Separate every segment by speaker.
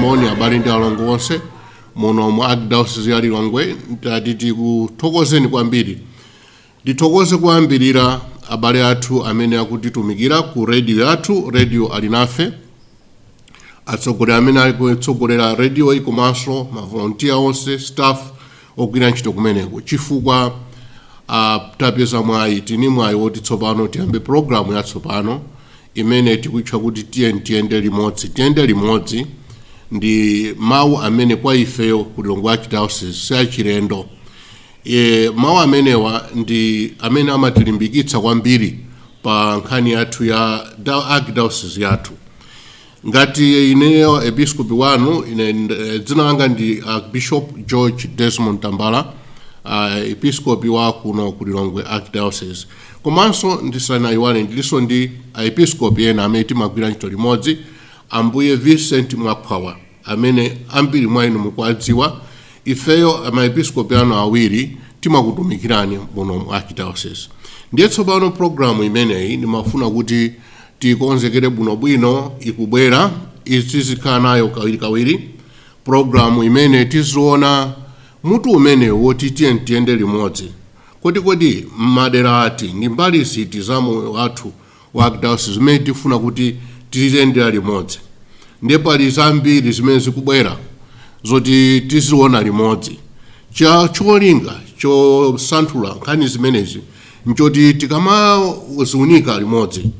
Speaker 1: moni abale ndi alongo onse muno mu archdiocese ya lilongwe ndati ndikuthokozeni kwambiri ndithokoze kuyambirira abale athu amene akutitumikira ku radio yathu radio alinafe atsogoleri amene ali kutsogolera radioyi komanso mavolontiya onse staff ogwira ntchito kumeneko chifukwa uh, tapeza mwayi tili ndi mwayi woti tsopano tiyambe programu yatsopano imene tikutcha kuti tiyeni tiyende limodzi tiyende limodzi ndi mawu amene kwa ifeyo ku lilongwe archdiocese si achilendo e, mawu amenewa ndi amene amatilimbikitsa kwambiri pa nkhani yathu ya da- archdiocese yathu ngati ineyo episkopi wanu ine nd- dzina langa ndi archbishop george desmond tambala uh, episkopi wa kuno ku lilongwe archdiocese komanso ndisanayiwale ndilinso ndi aepiskopi ena amene timagwira ntchito limodzi ambuye vincent mwakhwawa amene ambiri mwa inu mukuwadziwa ifeyo maepiskopi anu awiri timakutumikirani muno mu archdiocese ndiye tsopano programu imeneyi ndimafuna kuti tiikonzekere bwinobwino ikubwerayi tizikhala nayo kawirikawiri programu imene tiziona mutu umene woti tiyeni tiyende limodzi kodi kodi m'madera ati ndi mbali ziti za moyo wathu wa archdiocese zimene tifuna kuti tiziyendera limodzi ndiye pali zambiri zimene zikubwera zoti tiziona limodzi cha cholinga chosanthula nkhani zimenezi nchoti tikamaziunika limodzi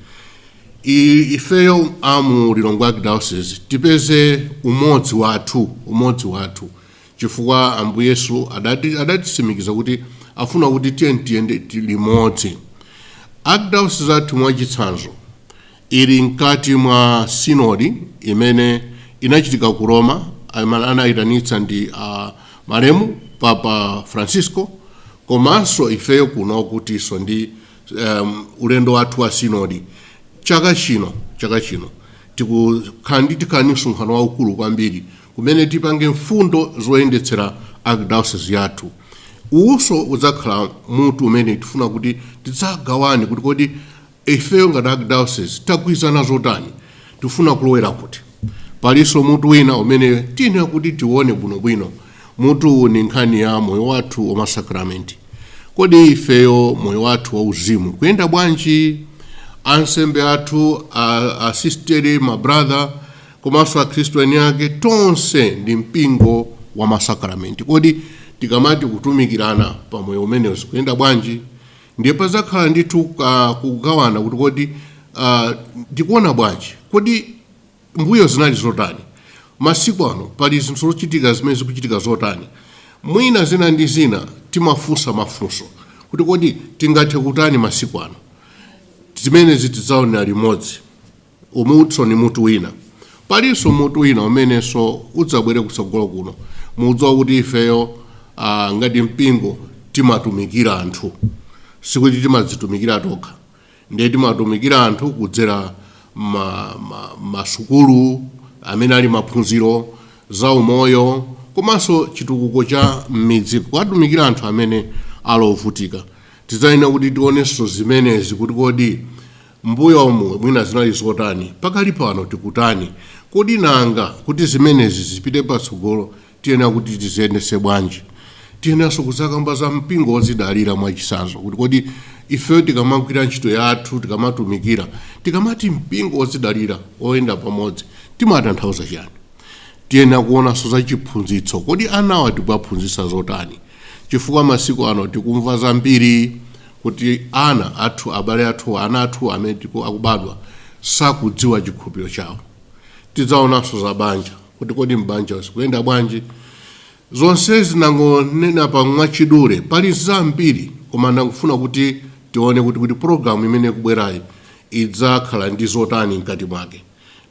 Speaker 1: i- ifeyo amu lilongwe archdiocese tipeze umodzi wathu umodzi wathu chifukwa ambuye yesu adati- adatitsimikiza kuti afuna kuti tiyeni tiyende ti- limodzi archdiocese yathu mwachitsanzo Ili mkati mwa sinodi imene inachitika ku Roma amene anayitanitsa ndi a malemu Papa Francisco komanso ifeyo kuno tilinso ndi um, ulendo wathu wa sinodi chaka chino chaka chino tikukhala ndi tikhala ndi msonkhano waukulu kwambiri kumene tipange mfundo zoyendetsera archdiocese yathu uwuso udzakhala mutu umene tifuna kuti tidzagawane kuti kodi Ifeyo ngati Archdiocese tagwirizana zotani? Tifuna kulowera kuti? Palinso mutu wina umene tiyenera kuti tione bwinobwino. Mutu ndi nkhani ya moyo wathu wa masakramenti. Kodi ifeyo moyo wathu wauzimu ukuyenda bwanji? Ansembe athu, asisteri, ma brother komanso Akhristu eni ake, tonse ndi mpingo wa masakramenti. Kodi tikamati kutumikirana pa moyo umenewu zikuyenda bwanji? ndiye padzakhala ndithu ah, kugawana kuti kodi ah, tikuona bwanji kodi mbuyo zinali zotani masiku ano pali zinthu zochitika zimene zikuchitika zotani mwina zina ndi zina timafunsa mafunso kuti kodi tingathe kutani masiku ano zimenezi tidzaonera limodzi Umunso ndi mutu wina. Palinso mutu wina umenenso udzabwere kutsogolo kuno. Mukudziwa kuti ifeyo ah, ngati mpingo timatumikira anthu, sikuti timadzitumikira tokha, ndiye timatumikira anthu kudzera ma, ma, masukulu amene ali maphunziro za umoyo komanso chitukuko cha m'midzi kuwatumikira anthu amene ali ovutika. Tidzayenera kuti tionenso zimenezi kuti kodi M'mbuyomu mwina zinali zotani? Pakali pano tikutani? Kodi nanga kuti zimenezi zipite patsogolo tiyenera kuti tiziyendetse bwanji? Tiyeneranso kudzakamba za mpingo wodzidalira, mwachitsanzo, kuti kodi ifeyo tikamagwira ntchito yathu, tikamatumikira, tikamati mpingo wodzidalira, woyenda pamodzi, timatanthauza chiyani? Tiyenera kuonanso za chiphunzitso. Kodi anawa tikuwaphunzitsa zotani? Chifukwa masiku ano tikumva zambiri. kuti ana athu, abale athu, ana athu amene akubadwa sakudziwa chikhulupiriro chawo. Tidzaonanso za banja kuti kodi m'banja zikuyenda bwanji. Zonsezi ndangonenapa mwachidule, pali zambiri koma ndangofuna kuti tione kuti kuti pologalamu imene ikubwerayi idzakhala ndi zotani mkati mwake.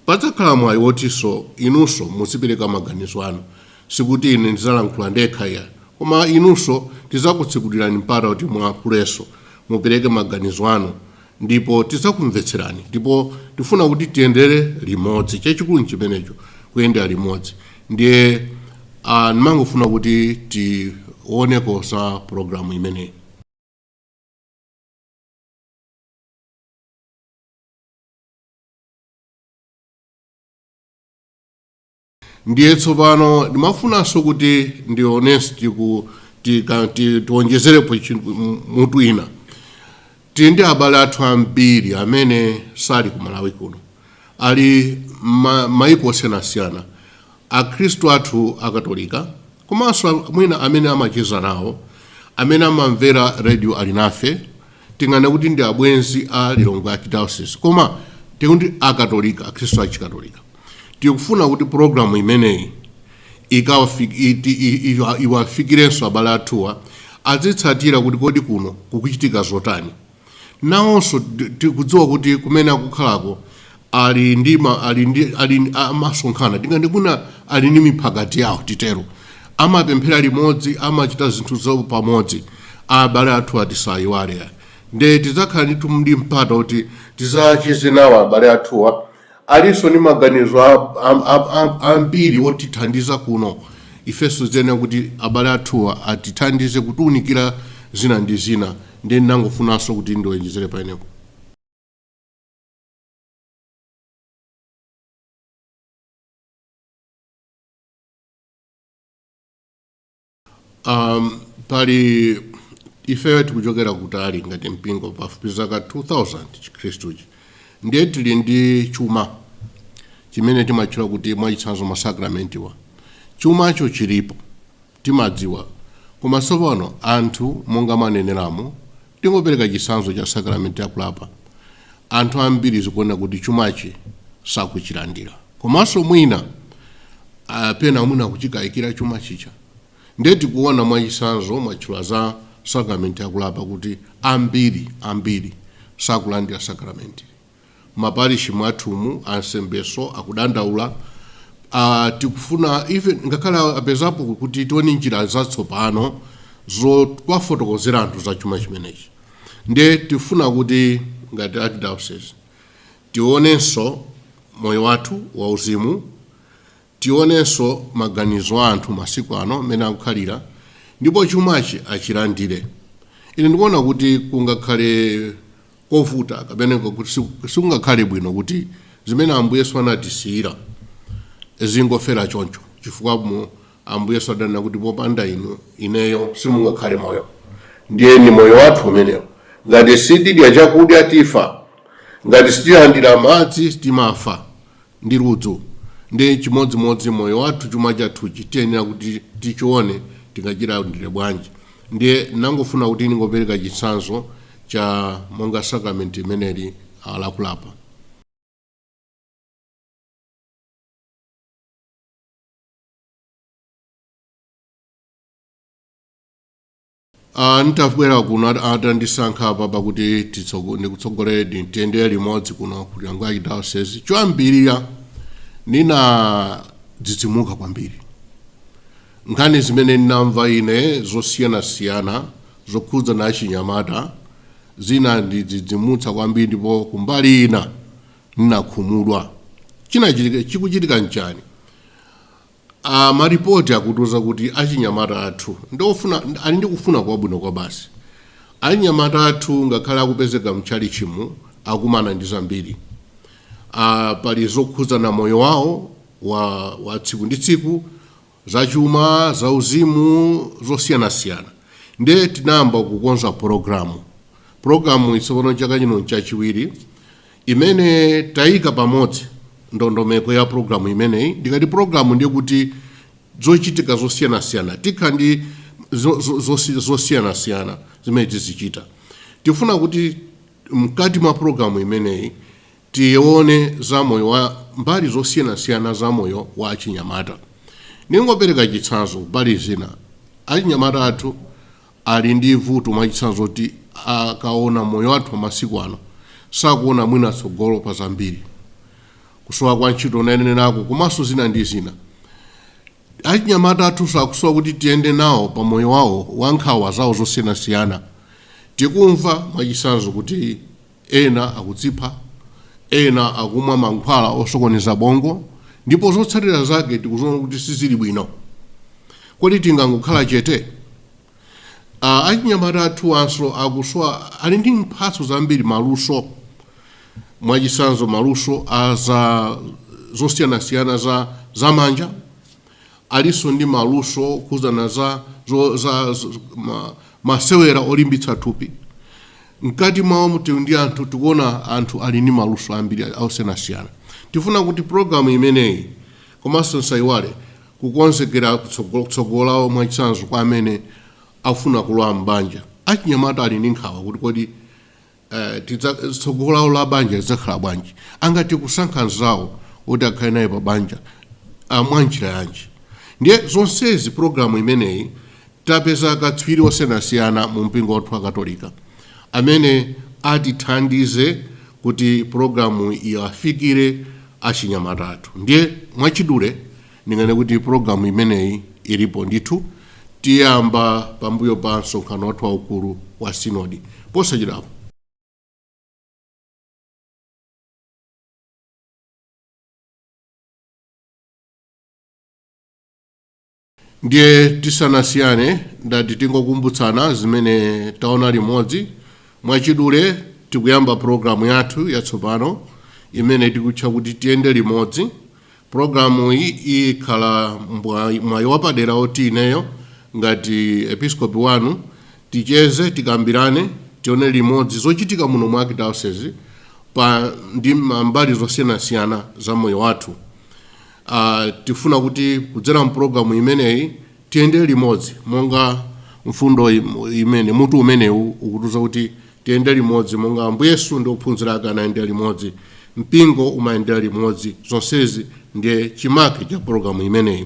Speaker 1: Padzakhala mwayi wotinso inunso muzipereka maganizo anu. Sikuti ine ndidzalankhula ndekha iyayi, koma inunso tidzakutsekulirani mpata kuti mulankhulenso, mupereke maganizo anu ndipo tidzakumvetserani. Ndipo tifuna kuti tiyendere limodzi. Chachikulu n'chimenecho, kuyendera limodzi. Ndiye a, ndimangofuna kuti tioneko za pulogalamu imeneyi. ndiye tsopano ndimafunanso kuti ndionesti ku tika- ti- tiwonjezerepo chi- m- mutu wina tili ndi abale athu ambiri amene sali ku malawi kuno ali ma- maiko osiyanasiyana Akhristu athu a Katolika komanso mwina amene amacheza nawo, amene amamvera Radio Alinafe, tinganene kuti ndi abwenzi a Lilongwe Archdiocese koma tikuti a Katolika, Akhristu a Chikatolika. Tikufuna kuti program imeneyi iwafikirenso abale athuwa, azitsatira kuti kodi kuno kukuchitika zotani. nawonso ti- tikudziwa kuti kumene akukhalako ali ndi ma- ali ndi ali ndi- amasonkhana tingati kuna ali ndi miphakati yawo titero amapemphera limodzi amachita zinthu zawo pamodzi abale athuwa tisayiwale nde tidzakhala ndithu ndi mpata kuti tidzacheze nawo abale athuwa alinso ndi maganizo ambiri otithandiza kuno, ifenso tiyenera kuti abale athuwa atithandize kutiunikira zina ndi zina, ndiye ndinangofunanso kuti ndiwonjezere pamenepo. Um, pali ifeyo tikuchokera kutali ngati mpingo pafupi zaka 2000 chikhristuchi ndiye tili ndi chuma chimene timatchula kuti mwachitsanzo masakramentiwa chumacho chilipo timadziwa koma tsopano anthu monga mwaneneramo Tingopereka chitsanzo cha sakramenti ya kulapa. Anthu ambiri zikuoneka kuti chumachi sakuchilandira, komanso mwina ah, pena mwina akuchikayikira chuma chija. Ndiye tikuona mwachitsanzo, mwatchula za sakramenti ya kulapa kuti ambiri ambiri sakulandira sakramenti. ma parish mwathumu ansembeso akudandaula uh, tikufuna even ngakhale apezapo kuti tione njira zatsopano zowafotokozera anthu za chuma chimenechi nde tifuna kuti ngati archdiocese tionenso moyo wathu wauzimu Tionenso maganizo a anthu masiku ano mmene akukhalira ndipo chumachi achilandire. Ine ndikuona kuti kungakhale kovuta kapena kuti sikungakhale bwino kuti zimene Ambuye Yesu anatisiyira zingofera choncho chifukwa Ambuye Yesu adanena kuti popanda inu ineyo simungakhale moyo. Ndiye ndi moyo wathu umenewo. Ngati sitidya chakudya tifa, ngati sitilandira madzi timafa. ndi ludzu. Ndi chimodzimodzi moyo wathu, chuma chathuchi tiyenera kuti tichione tingachilandire bwanji. Ndiye ndinangofuna kuti ndingopereka chitsanzo cha monga sacrament imeneli ah, lakulapa. Ah, ntabwera kuno at- atandisankha apa pakuti titsogo- ndikutsogolereni tiyendere limodzi kuno ku Lilongwe Archdiocese choyambirira ndinadzidzimuka kwambiri nkhani zimene ndinamva ine zosiyanasiyana zokhudza na achinyamata zinandidzidzimutsa kwambiri ndipo kumbali ina ndinakhumudwa chinachitika chikuchitika nchani A malipoti akutiuza kuti achinyamata athu ndi ofuna, ali ndi kufuna kwabwino kwabasi. Achinyamata athu ngakhale akupezeka mtchalitchimu akumana ndi zambiri. A, pali zokhudzana moyo wawo wa, wa tsiku ndi tsiku, zachuma, zauzimu, zosiyanasiyana. Ndiye tinayamba kukonza pulogalamu. Pulogalamuyi tsopano chaka chino n'chachiwiri. imene tayika pamodzi ndondomeko ya programu imeneyi ndikati programu ndiye kuti zochitika zosiyanasiyana tikhala ndi zo- zo- zosi- zosiyanasiyana zimene tizichita tifuna kuti mkati mwa programu imeneyi tione za moyo wa mbali zosiyanasiyana za moyo wa achinyamata ningopereka chitsanzo mbali zina achinyamata athu ali ndi vuto mwachitsanzo loti akaona moyo wathu wa masiku ano sakuona mwina tsogolo pa zambiri kusowa kwa ntchito ndanenako komanso zina ndi zina achinyamata athunso akusowa kuti tiyende nawo pa moyo wawo wa nkhawa zawo zosiyanasiyana tikumva mwachitsanzo kuti Ena akudzipha, ena akumwa mankhwala osokoneza bongo, ndipo zotsatira zake tikuziona kuti sizili bwino. Kodi tingangokhala chete? Achinyamata athuwanso akusowa, ali ndi mphatso zambiri, maluso, mwachitsanzo maluso a za zosiyanasiyana za zamanja. Alinso ndi maluso okhudzana za zo za ma, masewera olimbitsa thupi. Mkati mwawo muti ndi anthu tikuona anthu ali ndi maluso ambiri osiyanasiyana. Tifuna kuti programu imeneyi komanso nsayiwale kukonzekera tsogolo lawo mwachitsanzo kwa amene afuna kulowa m'banja. Achinyamata ali ndi nkhawa kuti kodi tsogolo lawo la banja lidzakhala bwanji angathe kusankha mzawo oti akhale naye pa banja mwanjira yanji ndiye zonsezi programu imeneyi tapeza akatswiri osiyanasiyana mu mpingo wathu wa katolika amene atithandize kuti programuyi iwafikire achinyamata athu ndiye mwachidule Ndinganene kuti pulogalamu imeneyi ilipo ndithu. Tiyamba pambuyo pa msonkhano wathu waukulu wa sinodi posachedwapa. Ndiye tisanasiyane, ndati tingokumbutsana zimene taona limodzi. Mwachidule, tikuyamba pulogalamu yathu yatsopano imene tikutcha kuti Tiyende Limodzi. Pulogalamuyi ikhala mwayi wapadera woti ineyo ngati Episkopi wanu ticheze, tikambirane, tione limodzi zochitika muno mu Arkidayosezi pa mbali zosiyanasiyana za moyo wathu. Tifuna kuti kudzera mu pulogalamu imeneyi Tiyende limodzi monga mfundo imene, mutu umenewu ukutiuza kuti tiyende limodzi monga Ambuye Yesu ndi ophunzira ake anayendera limodzi. Mpingo umayendera limodzi. Zonsezi ndiye chimake cha pulogalamu imeneyi.